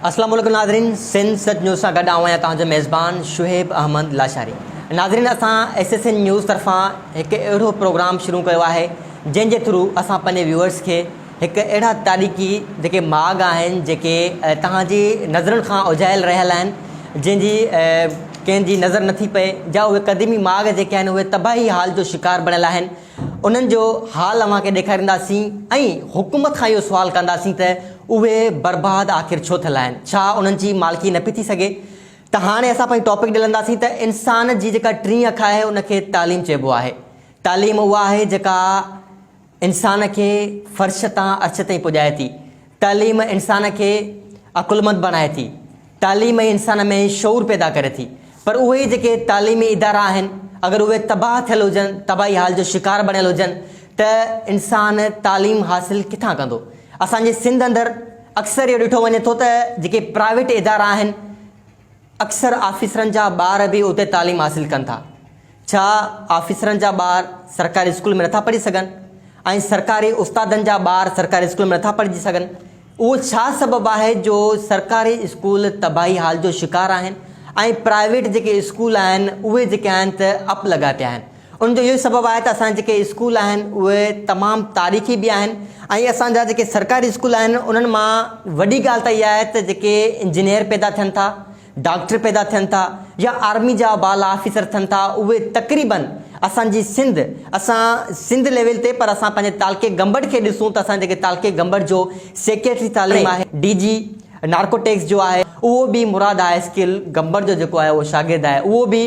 اسلام عليڪم ناظرين سنڌ سچ نيوز سان گڏ آهيان تهان جو ميزبان شعيب احمد لاشاري ناظرين اسان ايس ايس اين نيوز طرفان هڪ اهڙو پروگرام شروع ڪيو آهي جنهن جي ٿرو اسان پنهنجي ويورز کي هڪ اهڙا تاريخي جيڪي ماڳ آهن جيڪي توهان جي نظرن کان اجهايل رهيل آهن جنهن جي ڪنهن جي نظر نٿي پئي جا اهي قديمي ماڳ جيڪي آهن اهي تباهي حال جو شڪار بڻيل آهن انهن جو حال اوهان کي ڏيکارينداسين ۽ حڪومت کان اهو سوال ڪنداسين ته اهي برباد آخر ڇو ٿيل آهن ڇا انهن جي مالڪي نه پئي ٿي سگهي ته هاڻي اسان پنهنجي ٽاپڪ ڏي لنگهنداسين ته انسان جي جيڪا ٽين اک آهي ان کي تعليم چئبو آهي تعليم اها آهي جيڪا انسان کي فرش تان عرش تائين پڄائي ٿي. تعليم انسان کي عقلمند بڻائي ٿي. تعليم ئي انسان ۾ شعور پيدا ڪري ٿي. پر اهي ئي جيڪي تعليمي ادارا آهن، اگر اهي تباهه ٿيل هجن، تباهي حال جو شڪار بڻيل هجن ته انسان تعليم حاصل ڪٿان ڪندو؟ اسان جي سنڌ اندر اڪثر اهو ڏٺو وڃي ٿو ته جيڪي پرائيويٽ ادارا آهن، اڪثر آفيسرن جا ٻار به اتي تعليم حاصل ڪن ٿا. ڇا آفيسرن جا ٻار سرڪاري اسڪول ۾ نٿا پڙهي سگهن ۽ سرڪاري استادن جا ٻار سرڪاري اسڪول ۾ نٿا پڙهجي سگهن؟ اهو ڇا سبب آهي جو سرڪاري اسڪول تباهي حال جو شڪار آهن ۽ پرائيويٽ جيڪي اسڪول آهن اهي جيڪي آهن ته اپ لڳا پيا آهن. ان جو اهو ئي سبب آهي ته اسان جا جيڪي اسڪول آهن اهي تمام تاريخي به آهن ۽ اسان جا جيڪي سرڪاري اسڪول آهن انهن مان وڏي ڳالهه ته اها آهي ته جيڪي انجنيئر پيدا ٿين ٿا، ڊاڪٽر پيدا ٿين ٿا يا آرمي جا بالا آفيسر ٿين ٿا اهي تقريباً اسان جي سنڌ اسان سنڌ ليول تي پر اسان پنهنجي تعلقي گمبٽ کي ڏسون ته اسان جيڪي تعلقي گمبٽ جو سيڪريٽري تعليم آهي ڊي جي نارڪوٽڪس جو آهي اهو به مراد هاء اسڪول گمبٽ جو جيڪو آهي اهو شاگرد آهي اهو به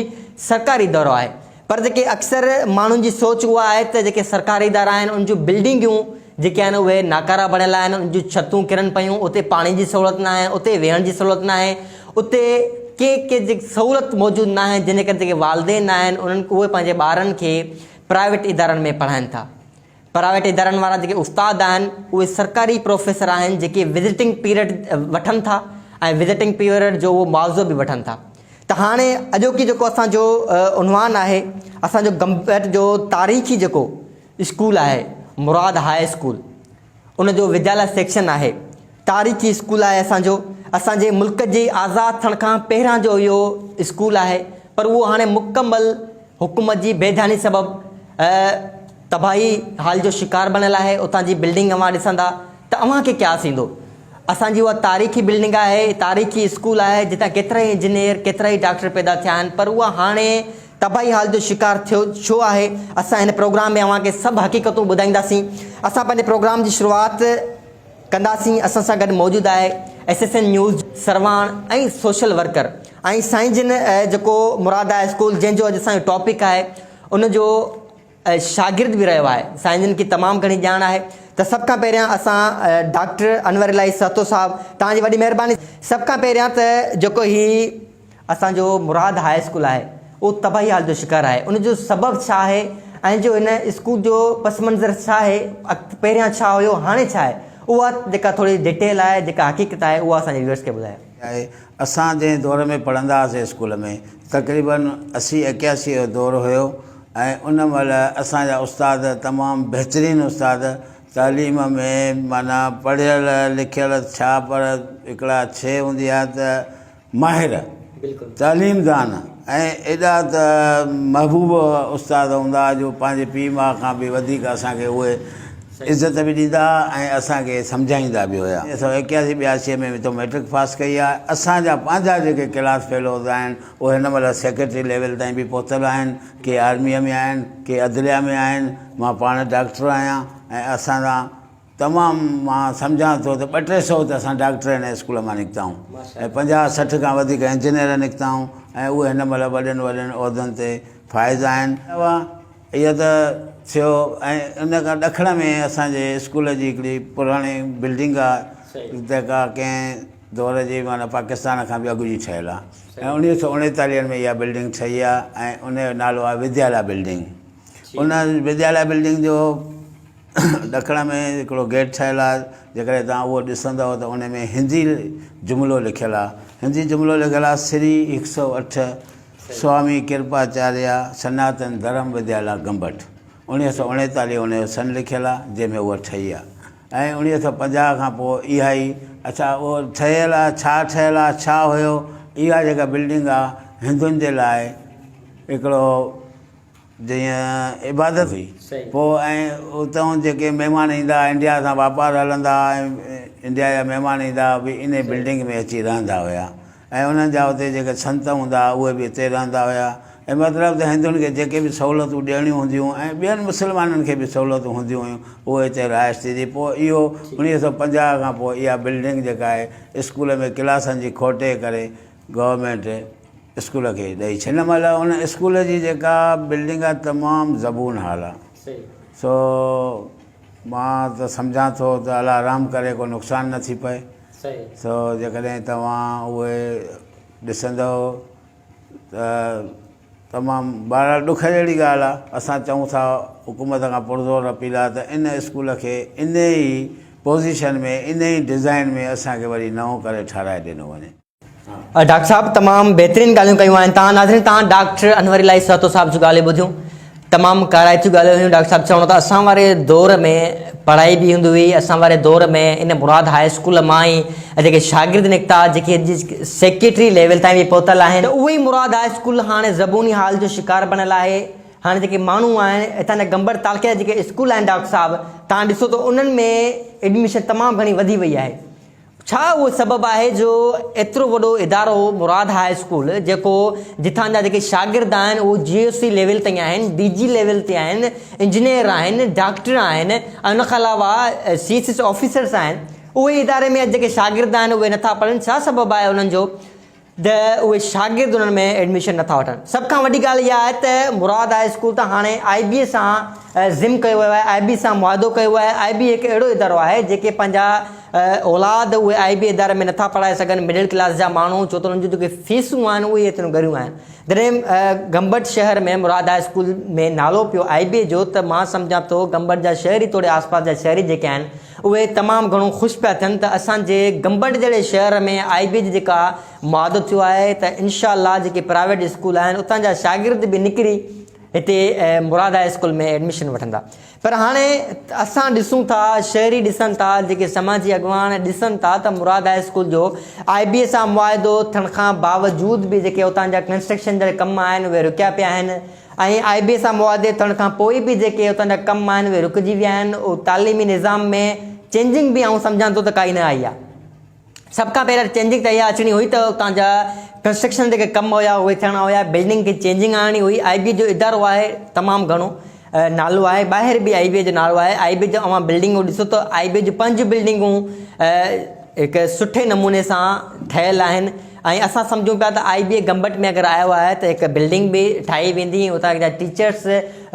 سرڪاري ادارو آهي. پر جيڪي اڪثر ماڻهن جي سوچ اها آهي ته جيڪي سرڪاري ادارا آهن ان جون بلڊنگيون جيڪي آهن اهي ناڪارا بڻيل آهن ان جون ڇتون ڪرن پيون اتي پاڻي جي سهولت نه آهي اتي ويهڻ جي سهولت نه آهي اتي ڪي ڪي جيڪي سهولت موجود نه آهن جنهن جي ڪري جيڪي والدين آهن انهن اهي پنهنجي ٻارن کي پرائيويٽ ادارن ۾ پڙهائن ٿا پرائيويٽ ادارن وارا جيڪي استاد آهن اهي سرڪاري پروفيسر آهن جيڪي وزٽنگ پيريڊ وٺن ٿا ۽ وزٽنگ پيريڊ جو اهو معاوضو به وٺن ٿا ته هاڻي اڄوڪي جيڪو اسان جو عنوان آهي اسان جو گمبيٽ جو تاريخي جيڪو اسڪول آهي مراد هاء اسڪول ان جو وديالا سيڪشن آهي تاريخي اسڪول آهي اسان جو اسان جي ملڪ جي آزاد ٿيڻ کان پهران جو اهو اسڪول آهي پر اهو هاڻي مڪمل حڪومت جي بيڌاني سبب تباهي حال جو شڪار بڻيل آهي اتان جي بلڊنگ اوهان ڏسندا ته اوهان کي قياس ايندو اسان جي اها تاريخي بلڊنگ آهي تاريخي اسڪول آهي جتان ڪيترائي انجنيئر ڪيترائي ڊاڪٽر پيدا ٿيا آهن پر اها هاڻي تباهي حال جو شڪار ٿيو ڇو آهي اسان هن پروگرام ۾ اوهان کي سڀ حقيقتون ٻڌائينداسين اسان پنهنجي پروگرام جي شروعات ڪنداسين اسان سان گڏ موجود آهي ايس ايس اين نيوز سرواڻ ۽ سوشل ورڪر ۽ سائين جن جيڪو مراد آهي اسڪول جنهن جو اڄ اسان جو ٽاپڪ آهي ان جو شاگرد به رهيو آهي سائين جن کي تمام گهڻي ڄاڻ آهي ته سڀ کان پهريان اسان ڊاڪٽر انور الاهي سهتو صاحب توهان جي وڏي مهرباني سڀ کان پهريان ته جيڪو هي اسان جو مراد هاء اسڪول آهي اهو تباهي حال جو شڪار آهي ان جو سبب ڇا آهي ۽ جو هن اسڪول جو پس منظر ڇا آهي پهريان ڇا هيو هاڻي ڇا آهي اها جيڪا ٿوري ڊيٽيل آهي جيڪا حقيقت آهي اها اسان جي ويورس کي ٻڌايو. آهي. اسان جنهن دور ۾ پڙهندا هئاسين اسڪول ۾ تقريباً اسي ايڪياسي جو دور هيو ۽ ان مهل اسان جا استاد تمام بهترين استاد تعليم ۾ معنيٰ پڙهيل لکيل ڇا پر هڪڙا شي هوندي آهي ته ماهر تعليم دان ۽ ايڏا ته محبوب استاد هوندا جو پنهنجي پيء ماء کان به وڌيڪ اسان کي اهي عزت به ڏيندا ھئا ۽ اسان کي سمجھائيندا به ھيا. اسان ايڪياسي ٻياسي ۾ به تو مئٽرڪ پاس ڪئي آھي. اسان جا پنھنجا جيڪي ڪلاس فيلوز آھن اھي ھن مھل سيڪريٽري ليول تائين به پھتل آھن. ڪي آرميء ۾ آھن، ڪي عدليه ۾ آھن. مان پاڻ ڊاڪٽر آھيان ۽ اسان سان تمام مان سمجھان ٿو ته ٻه ٽي سؤ ته اسان ڊاڪٽر ھن اسڪول مان نڪتا آھون ۽ پنجاھ سٺ کان وڌيڪ انجنيئر نڪتا آھون ۽ اھي ھن مھل وڏين وڏين عھدن تي فائز آھن. اهو ته ٿيو ۽ ان کان ڏکڻ ۾ اسان جي اسڪول جي هڪڙي پراڻي بلڊنگ آ جيڪا ڪنهن دور جي معنيٰ پاڪستان کان به اڳ جي ٺهيل آ ۽ اڻويهه سؤ اڻيتاليهن ۾ اها بلڊنگ ٺهي آ ۽ ان جو نالو آ وديالا بلڊنگ ان وديالا بلڊنگ جو ڏکڻ ۾ هڪڙو گيٽ ٺهيل آ جيڪڏهن توهان اهو ڏسندؤ ته ان ۾ هندي جملو لکيل آ هندي جملو لکيل آ سري هڪ سؤ اٺ سوامي ڪرپاچاريا سناتن ڌرم وديالا گمبٽ، اوڻيهه سؤ اڻيتاليهه ان جو سن لکيل آ جنهن ۾ اها ٺهي آ ۽ اوڻيهه سؤ پنجاهه کان پوء اها ئي اڇا اهو ٺهيل آ ڇا ٺهيل آ ڇا هيو اها جيڪا بلڊنگ آ هندن جي لاء هڪڙو جيئن عبادت هئي پوء ۽ اتئون جيڪي مهمان ايندا آ انڊيا سان واپار هلندا آ ۽ انڊيا جا مهمان ايندا آ اهي انهي بلڊنگ ۾ اچي رهندا هيا. ۽ انهن جا اتي جيڪي سنت هوندا ها اهي به اتي رهندا هيا ۽ مطلب ته هندن کي جيڪي به سهولتون ڏيڻيون هونديون ۽ ٻين مسلمانن کي به سهولتون هونديون هيون اهي اتي رهائش ٿي ٿي پوء اهو اوڻيهه سو پنجاهه کان پوء اها بلڊنگ جيڪا آهي اسڪول ۾ ڪلاسن جي کوٽي ڪري گورنمينٽ اسڪول کي ڏئي ڇڏي هن مهل ان اسڪول جي جيڪا بلڊنگ آهي تمام زبون حال آهي سو مان ته سمجهان ٿو ته الله رحم ڪري ڪو نقصان نه ٿي پئي سو جيڪڏهن توهان اهي ڏسندؤ ته تمام بهرحال ڏک جهڙي ڳالهه آهي. اسان چئون ٿا حڪومت کان پرزور اپيل آهي ته ان اسڪول کي انهي ئي پوزيشن ۾ انهي ئي ڊزائين ۾ اسان کي وري نئون ڪري ٺهرائي ڏنو وڃي. ڊاڪٽر صاحب تمام بهترين ڳالهيون ڪيون آهن تان ناظرين تان ڊاڪٽر انور الهي سهتو صاحب جون ڳالهيون ٻڌيون تمام ڪارائتيون ڳالهيون هيون ڊاڪٽر صاحب چوڻو ته اسان واري دور ۾ پڙهائي به هوندي هئي اسان واري دور ۾ ان مراد هاء اسڪول مان ئي جيڪي شاگرد نڪتا جيڪي سيڪريٽري ليول تائين به پهتل آهن ته اهي ئي مراد هاء اسڪول هاڻي زبوني حال جو شڪار بڻيل آهي هاڻي جيڪي ماڻهو آهن هتان جا گمبڙ تعلقي جا جيڪي اسڪول آهن ڊاڪٽر صاحب تان ڏسو ته انهن ۾ ايڊميشن تمام گهڻي وڌي وئي آهي ڇا اهو سبب آهي جو ايترو وڏو ادارو مراد هاء اسڪول جيڪو جتان جا جيڪي شاگرد آهن اهو جي او سي ليول تائين آهن، ڊي جي ليول تي آهن، انجنيئر آهن، ڊاڪٽر آهن ۽ ان کان علاوه سي ايس ايس آفيسرس آهن اهي اداري ۾ اڄ جيڪي شاگرد آهن اهي نٿا پڙهن ڇا سبب آهي انهن جو؟ ته اهي شاگرد انهن ۾ ايڊميشن نٿا وٺن سڀ کان وڏي ڳالهه اها آهي ته مراد هاء اسڪول ته هاڻي آء بي اي سان ضم ڪيو ويو آهي آء بي اي سان معاهدو ڪيو ويو آهي آء بي اي هڪ اهڙو ادارو آهي جيڪي پنهنجا اولاد اهي آء بي اي اداري ۾ نٿا پڙهائي سگهن مڊل ڪلاس جا ماڻهو ڇو ته انهن جون جيڪي فيسون آهن اهي ايتريون ڳريون آهن جڏهن گمبٽ شهر ۾ مراد هاء اسڪول ۾ نالو پيو آء بي اي جو ته مان سمجهان ٿو گمبٽ جا شهري توڙي آس پاس جا شهري جيڪي آهن اهي تمام گهڻو خوش پيا ٿين ته اسان جي گمبٽ جهڙي شهر ۾ آء بي جي جيڪا معاهدو ٿيو آهي ته انشاء الله جيڪي پرائيويٽ اسڪول آهن اتان جا شاگرد به نڪري هتي مراد هاء اسڪول ۾ ايڊميشن وٺندا پر هاڻي اسان ڏسون ٿا شهري ڏسن ٿا جيڪي سماجي اڳواڻ ڏسن ٿا ته مراد هاء اسڪول جو آء بي سان معاهدو ٿيڻ کان باوجود به جيڪي اتان جا ڪنسٽرڪشن جا ڪم آهن اهي رڪيا پيا آهن ۽ آء بي سان معاهدي ٿيڻ کان پوء به جيڪي اتان جا ڪم آهن اهي رڪجي ويا آهن ۽ تعليمي نظام ۾ چينجنگ به آئون سمجهان ٿو ته ڪائي نه آئي آهي. سڀ کان پهريان چينجنگ ته اها اچڻي هئي ته اتان جا ڪنسٽرڪشن جيڪي ڪم هيا اهي ٿيڻا هيا بلڊنگ کي چينجنگ آڻڻي هئي آء بي جو ادارو آهي تمام گهڻو نالو آهي ٻاهر به آء بي جو نالو آهي آء بي جون اوهان بلڊنگون ڏسو ته آء بي جون پنج بلڊنگون هڪ سٺي نموني سان ٺهيل آهن ۽ اسان سمجهون پيا ته آئي بي اي گمبٽ ۾ اگر آيو آهي ته هڪ بلڊنگ به ٺاهي ويندي ۽ اتان جا ٽيچرس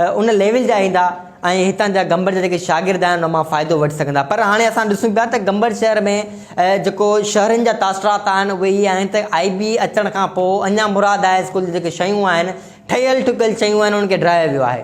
ان ليول جا ايندا ۽ هتان جا گمبٽ جا جيڪي شاگرد آهن ان مان فائدو وٺي سگهندا پر هاڻي اسان ڏسون پيا ته گمبٽ شهر ۾ جيڪو شهرين جا تاثرات آهن اهي هي آهن ته آئي بي اي اچڻ کان پوء اڃا مراد هاء اسڪول جي جيڪي شيون آهن ٺهيل ٺڪيل شيون آهن انهن کي ڊاهيو ويو آهي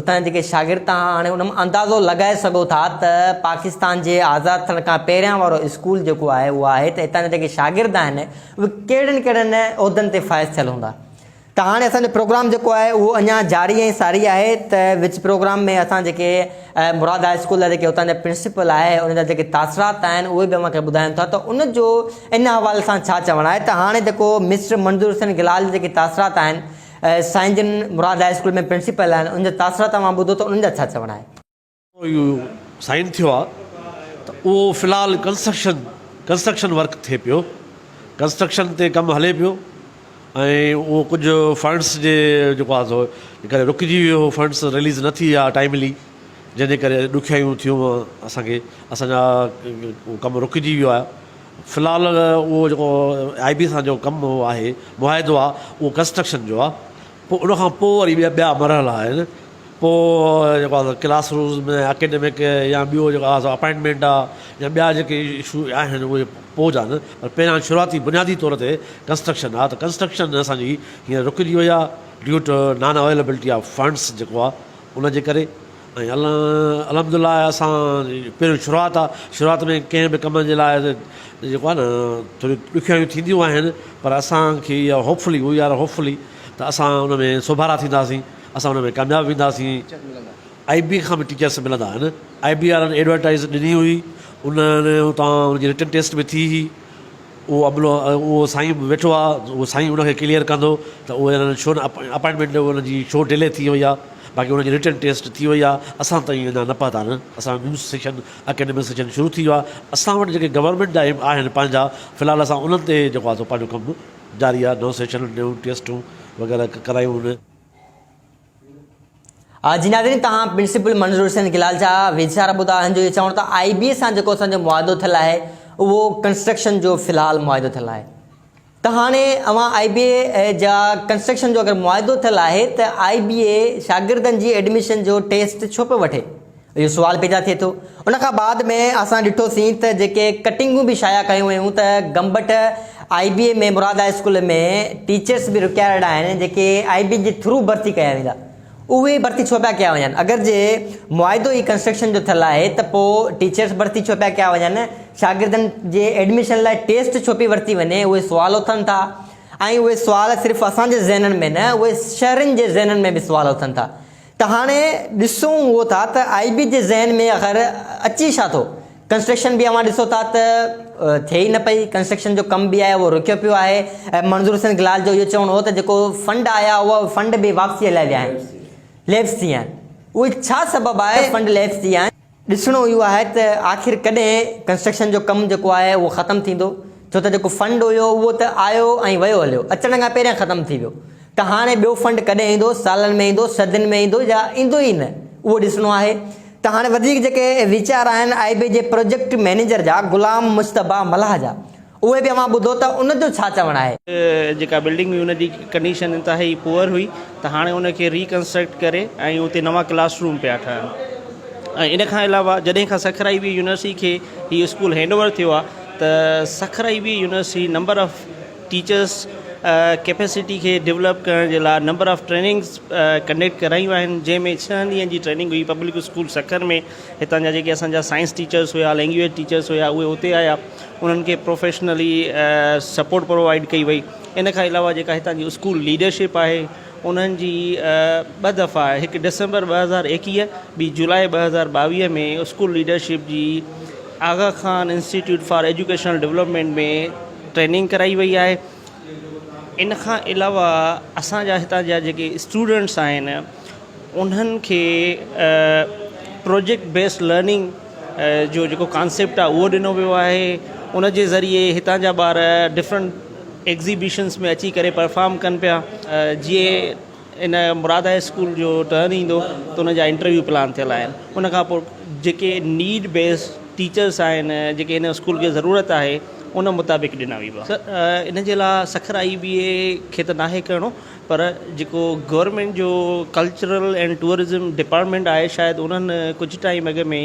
اتان جا جيڪي شاگرد تان هاڻي ان مان اندازو لڳائي سگهو ٿا ته پاڪستان جي آزاد ٿيڻ کان پهريان وارو اسڪول جيڪو آهي اهو آهي ته اتان جا جيڪي شاگرد آهن اهي ڪهڙن ڪهڙن عهدن تي فائز ٿيل هوندا ته هاڻي اسان جو پروگرام جيڪو آهي اهو اڃا جاري ۽ ساري آهي ته وچ پروگرام ۾ اسان جيڪي مراد هاء اسڪول جا جيڪي اتان جا پرنسپل آهي ان جا جيڪي تاثرات آهن اهي به اوهان کي ٻڌايون ٿا ته ان جو ان حوالي سان ڇا چوڻ آهي ته هاڻي جيڪو مسٽر منظور حسين گلال جا جيڪي تاثرات آهن سائين جن مراد هاء اسڪول ۾ پرنسپل آهن ان جا تاثرات اوهان ٻڌو ته انهن جا ڇا چوڻ آهي. اهو سائين ٿيو آ ته اهو في الحال ڪنسٽرڪشن ڪنسٽرڪشن ورڪ ٿئي پيو ڪنسٽرڪشن تي ڪم هلي پيو ۽ اهو ڪجهه فنڊس جي جيڪو آ سو ڪري رڪجي ويو هو فنڊس رليز نه ٿي آ ٽائملي جنهن جي ڪري ڏکيائيون ٿيون اسان کي اسان جا ڪم رڪجي ويو آ في الحال اهو جيڪو آء بي سان جو ڪم آهي معاهدو آهي اهو ڪنسٽرڪشن جو آهي پوء ان کان پوء وري ٻيا مرحلا آهن پوء جيڪو آهي سو ڪلاس روز ۾ اڪيڊمڪ يا ٻيو جيڪو آهي سو اپائنٽمينٽ آهي يا ٻيا جيڪي اشو آهن اهي پوء جا آهن پر پهريان شروعاتي بنيادي طور تي ڪنسٽرڪشن آهي ته ڪنسٽرڪشن اسان جي هينئر رڪجي وئي آهي due to non availability of funds جيڪو آهي ان جي ڪري ۽ الحمد الله اسان جي پهريون شروعات آ شروعات ۾ ڪنهن به ڪم جي لاء جيڪو آ نه ٿوري ڏکيائيون ٿينديون آهن پر اسان کي اها hopefully we are hopefully ته اسان ان ۾ سوڀارا ٿينداسين اسان ان ۾ ڪامياب وينداسين آئي بي کان به ٽيچرس ملندا آهن آئي بي وارن ايڊورٽائيز ڏني هئي انهن اتان ان جي رٽن ٽيسٽ به ٿي هئي اهو عملو اهو سائين ويٺو آ اهو سائين ان کي ڪليئر ڪندو ته اهو انهن ڇو نه اپائنٽمينٽ انهن جي ڇو ڊلي ٿي وئي آ باقي انهن جي رٽن ٽيسٽ ٿي وئي آ اسان تائين اڃا نه پهتا آهن اسان جو نيو سيشن اڪيڊمڪ سيشن شروع ٿي ويو آ اسان وٽ جيڪي گورنمينٽ جا آهن پنهنجا في الحال اسان انهن تي جيڪو آ سو پنهنجو ڪم جاري آ نئون سيشن نيون ٽيسٽون وغيره ڪرايون هن جي ناظرين تهان پرنسپل منظور حسين گلال جا ويچار ٻڌا آهن جو اهي چون ته آئي بي سان جيڪو اسان جو معاهدو ٿيل آهي اهو ڪنسٽرڪشن جو في الحال معاهدو ٿيل آهي ته هاڻي اوهان آئي بي جا ڪنسٽرڪشن جو اگر معاهدو ٿيل آهي ته آئي بي شاگردن جي ايڊميشن جو ٽيسٽ ڇو پيو وٺي اهو سوال پيدا ٿئي ٿو. ان کان بعد ۾ اسان ڏٺو سين ته جيڪي ڪٽنگون به شايع ڪيون ويون ته Gambat I B A ۾ Murad high school ۾ teachers به رڪيائرڊ آهن جيڪي آئي بي اي جي ٿرو ڀرتي ڪيا ويندا اهي ڀرتي ڇو پيا ڪيا وڃن اگر جي معاهدو ئي ڪنسٽرڪشن جو ٿيل آهي ته پو ٽيچرس ڀرتي ڇو پيا ڪيا وڃن شاگردن جي ايڊميشن لاء ٽيسٽ ڇو پي ورتي وڃي اهي سوال اٿن ٿا ۽ اهي سوال صرف اسان جي ذهنن ۾ نه اهي شهرين جي ذهنن ۾ به سوال اٿن ٿا. ته هاڻي ڏسون اهو ٿا ته آء بي جي ذهن ۾ آخر اچي ڇا ٿو. ڪنسٽرڪشن به اوهان ڏسو ٿا ته ٿئي ئي نه پئي، ڪنسٽرڪشن جو ڪم به آهي اهو رڪيو پيو آهي ۽ منظور حسين گلال جو اهو چوڻ هو ته جيڪو فنڊ آيا هئا اهي فنڊ به واپسيء لاء ويا آهن، ليپس ٿي ويا آهن، اهي ڇا سبب آهي ته فنڊ ليپس ٿي ويا آهن. ڏسڻو اهو آهي ته آخر ڪڏهن ڪنسٽرڪشن جو ڪم جيڪو آهي اهو ختم ٿيندو ڇو ته جيڪو فنڊ هيو اهو ته آيو ۽ ويو هليو اچڻ کان پهريان ختم ٿي ويو ته هاڻي ٻيو فنڊ ڪڏهن ايندو سالن ۾ ايندو صدين ۾ ايندو يا ايندو ئي نه اهو ڏسڻو آهي ته هاڻي وڌيڪ جيڪي ويچار آهن آئي بي جي پروجيڪٽ مئنيجر جا غلام مجتبيٰ ملاح جا اهي به اوهان ٻڌو ته ان جو ڇا چوڻ آهي. جيڪا بلڊنگ هئي ان جي ڪنڊيشن انتهائي پوئر هئي ته هاڻي ان کي ري ڪنسٽرڪٽ ڪري ۽ اتي نوان ڪلاس روم پيا ٺهن ۽ ان کان علاوه جڏهن کان سکر آئي وي يونيورسٽي کي هي اسڪول هينڊ اوور ٿيو آهي ته Sukkur I V university number of teachers capacity کي ڊولپ ڪرڻ جي لاء نمبر آف ٽريننگس ڪنڊڪٽ ڪرايون آهن جنهن ۾ ڇهن ڏينهن جي ٽريننگ هئي پبلڪ اسڪول سکر ۾ هتان جا جيڪي اسان جا سائنس ٽيچرس هيا لينگويج ٽيچرس هيا اهي اتي آيا انهن کي پروفيشنلي سپورٽ پرووائيڊ ڪئي وئي ان کان علاوه جيڪا هتان جي اسڪول ليڊرشپ آهي انهن جي ٻه دفعا هڪ ڊسمبر ٻه هزار ايڪيهه ٻي جولاء ٻه هزار ٻاويهه ۾ اسڪول ليڊرشپ جي Aga Khan institute for educational development ۾ training ڪرائي وئي آهي ان کان علاوه اسان جا هتان جا جيڪي اسٽوڊنٽس آهن انهن کي پروجيڪٽ بيس لرننگ جو جيڪو ڪانسيپٽ آهي اهو ڏنو ويو آهي ان جي ذريعي هتان جا ٻار ڊفرنٽ ايگزيبشنس ۾ اچي ڪري پرفام ڪن پيا جي ان مراد هاء اسڪول جو ٽرن ايندو ته ان جا انٽرويو پلان ٿيل آهن ان کان پوء جيڪي نيڊ بيس ٽيچرس آهن جيڪي ان اسڪول کي ضرورت آهي ان مطابق ڏنا ويبا ان جي لا سکر آئي بي اي کي ته ناهي ڪرڻو پر جيڪو گورنمينٽ جو ڪلچرل اينڊ ٽوئرزم ڊپارٽمينٽ آهي شايد انهن ڪجهه ٽائيم اڳ ۾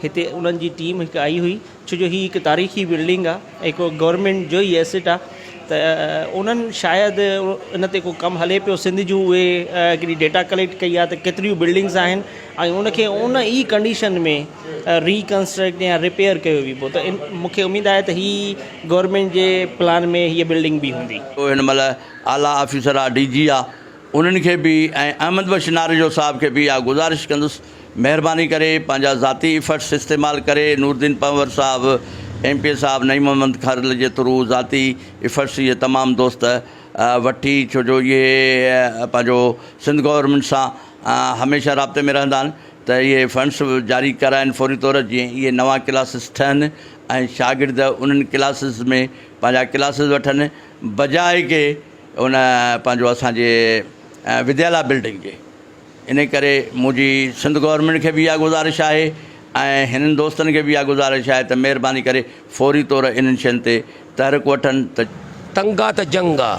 هتي انهن جي ٽيم هڪ آئي هئي ڇو جو هي هڪ تاريخي بلڊنگ آ هڪ گورنمينٽ جو ئي ايسٽ آ ته انهن شايد ان تي ڪو ڪم هلي پيو سنڌ جون اهي هڪڙي ڊيٽا ڪليڪٽ ڪئي آ ته ڪيتريون بلڊنگس آهن ۽ ان کي ان ئي ڪنڊيشن ۾ ريڪنسٽرڪٽ يا ريپيئر ڪيو ويبو ته مونکي اميد آهي ته هي گورنمينٽ جي پلان ۾ هي بلڊنگ به هوندي. هن مهل اعليٰ آفيسر آ، ڊي جي آ، انهن کي به ۽ احمد بخش ناريجو صاحب کي به اها گذارش ڪندس مهرباني ڪري پنهنجا ذاتي ايفرٽس استعمال ڪري نوردين پنهور صاحب، ايم پي اي صاحب، نعيم محمد کرل جي ٿرو ذاتي ايفرٽس اهي تمام دوست وٺي ڇو جو اهي پنهنجو سنڌ گورنمينٽ سان هميشه رابطي ۾ رهندا آهن ته اهي فنڊس جاري ڪرائن فوري طور جيئن اهي نوان ڪلاسز ٺهن ۽ شاگرد انهن ڪلاسز ۾ پنهنجا ڪلاسز وٺن. بجاء ڪي ان پنهنجو اسان جي وديالا بلڊنگ جي ان ڪري منهنجي سنڌ گورنمينٽ کي به اها گذارش آهي ۽ هنن دوستن کي به اها گذارش آهي ته مهرباني ڪري فوري طور انهن شين تي تحرڪ وٺن ته تنگ آ ته جنگ آ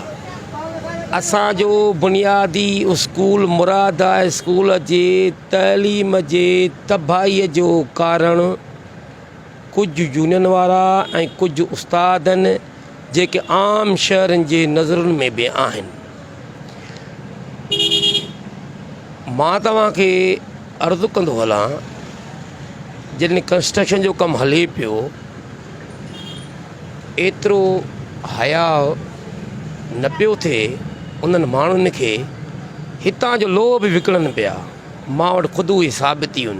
اسان جو بنيادي اسڪول مراد هاء اسڪول جي تعليم جي تباهي جو ڪارڻ ڪجهه يونين وارا ۽ ڪجهه استادن جيڪي عام شهرين جي نظرن ۾ به آهن. مان توهان کي عرض ڪندو هلان جڏهن ڪنسٽرڪشن جو ڪم هلي پيو ايترو حياء نه پيو ٿئي انهن ماڻهن کي هتان جو لوهه به وڪڻن پيا مان وٽ خود اهي ثابتيون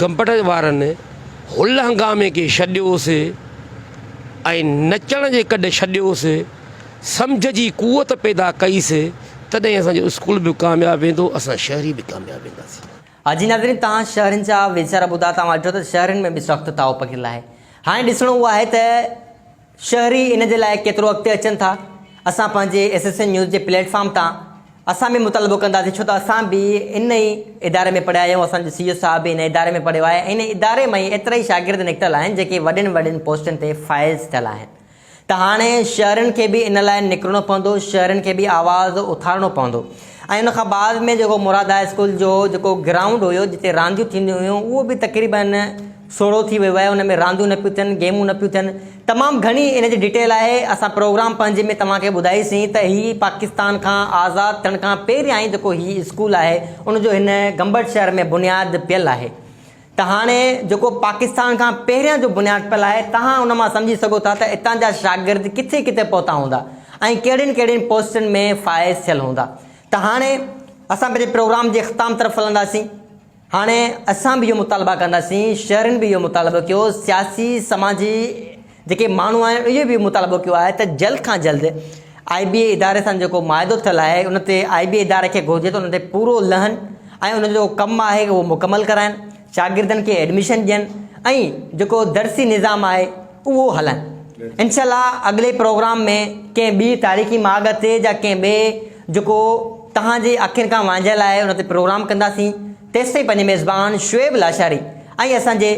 گمبٽ وارن هل هنگامي کي ڇڏيوس ۽ نچڻ جي ڪڏ ڇڏيوس، سمجهه جي قوت پيدا ڪئيس، تڏهن اسان جو اسڪول به ڪامياب ويندو، اسان شهري به ڪامياب وينداسين. ها جي ناظرين توهان شهرين جا ويچار ٻڌا توهان ڏٺو ته شهرين ۾ به سخت تاء پکڙيل آهي هاڻي ڏسڻو اهو آهي ته شهري ان جي لاء ڪيترو اڳتي اچن ٿا اسان پنهنجي ايس ايس اين نيوز جي پليٽ فارم تان اسان به مطالبو ڪنداسين ڇو ته اسان به ان ئي اداري ۾ پڙهيا آهيون اسان جو سي او صاحب به ان اداري ۾ پڙهيو آهي ان اداري مان ئي ايترا ئي شاگرد نڪتل آهن جيڪي وڏين وڏين پوسٽن تي فائز ٿيل آهن ته هاڻي شهرين کي به ان لاء نڪرڻو پوندو شهرين کي به آواز اٿارڻو پوندو ۽ ان کان بعد ۾ جيڪو مراد هاء اسڪول جو جيڪو گرائونڊ هيو جتي رانديون ٿينديون هيون اهو به تقريبن سوڙهو ٿي ويو آهي ان ۾ رانديون نه پيون ٿين گيمون نه پيون ٿين تمام گهڻي ان جي ڊيٽيل آهي اسان پروگرام پنهنجي ۾ توهان کي ٻڌائي سين ته هي پاڪستان کان آزاد ٿيڻ کان پهريائين جيڪو هي اسڪول آهي ان جو هن گمبٽ شهر ۾ بنياد پيل آهي ته هاڻي جيڪو پاڪستان کان پهريان جو بنياد پيل آهي توهان ان مان سمجهي سگهو ٿا ته اتان جا شاگرد ڪٿي ڪٿي پهتا هوندا ۽ ڪهڙين ڪهڙين پوسٽن ۾ فائز ٿيل هوندا ته هاڻي اسان پنهنجي پروگرام جي اختتام طرف هلنداسين هاڻي اسان به اهو مطالبا ڪنداسين، شهرين به اهو مطالبو ڪيو، سياسي سماجي جيڪي ماڻهو آهن اهي به مطالبو ڪيو آهي ته جلد کان جلد آء بي اي اداري سان جيڪو معاهدو ٿيل آهي ان تي آء بي اي اداري کي گهرجي ته ان تي پورو لهن ۽ ان جو ڪم آهي اهو مڪمل ڪرائن، شاگردن کي ايڊميشن ڏين ۽ جيڪو درسي نظام آهي. اهو هلن. انشاء الله اڳلي پروگرام ۾ ڪنهن ٻي تاريخي ماڳ تي يا ڪنهن ٻئي جيڪو توهان جي اکين کان وانجهيل آهي ان تي پروگرام ڪنداسين تيستائين پنهنجي ميزبان شعيب لاشاري ۽ اسان جي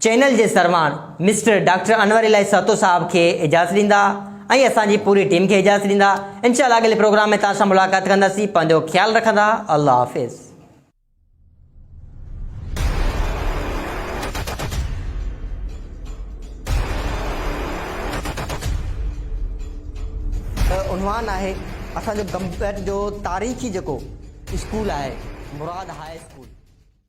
چينل جي سرواڻ مسٽر ڊاڪٽر انور الاهي سهتو صاحب کي اجازت ڏيندا ۽ اسان جي پوري ٽيم کي اجازت ڏيندا انشاء الله اڳلي پروگرام ۾ توهان سان ملاقات ڪنداسين پنهنجو خيال رکندا الله حافظ. عنوان آهي اسان جو گمبٽ جو تاريخي جيڪو اسڪول آهي مراد هاء اسڪول.